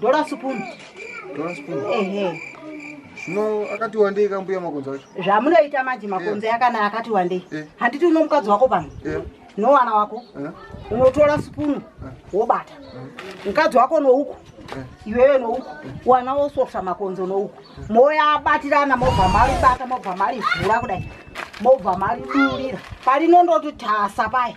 Dora supunu. Dora supunu. Ehe. Zvino akati wandei kambuya makonzo acho. Zvamunoita manje makonzo yeah. akana akati wandei. Yeah. Handiti uno mukadzi wako pano. Yeah. No wana wako. Yeah. Unotora supunu yeah. wobata. Yeah. Mukadzi wako no uku. Yeah. Iwewe no uku. Yeah. Wana wosofta makonzo no uku. Yeah. Moya abatirana mobva mari bata mobva mari vhura kudai. Mobva mari durira. Pari nondoti tasa pai.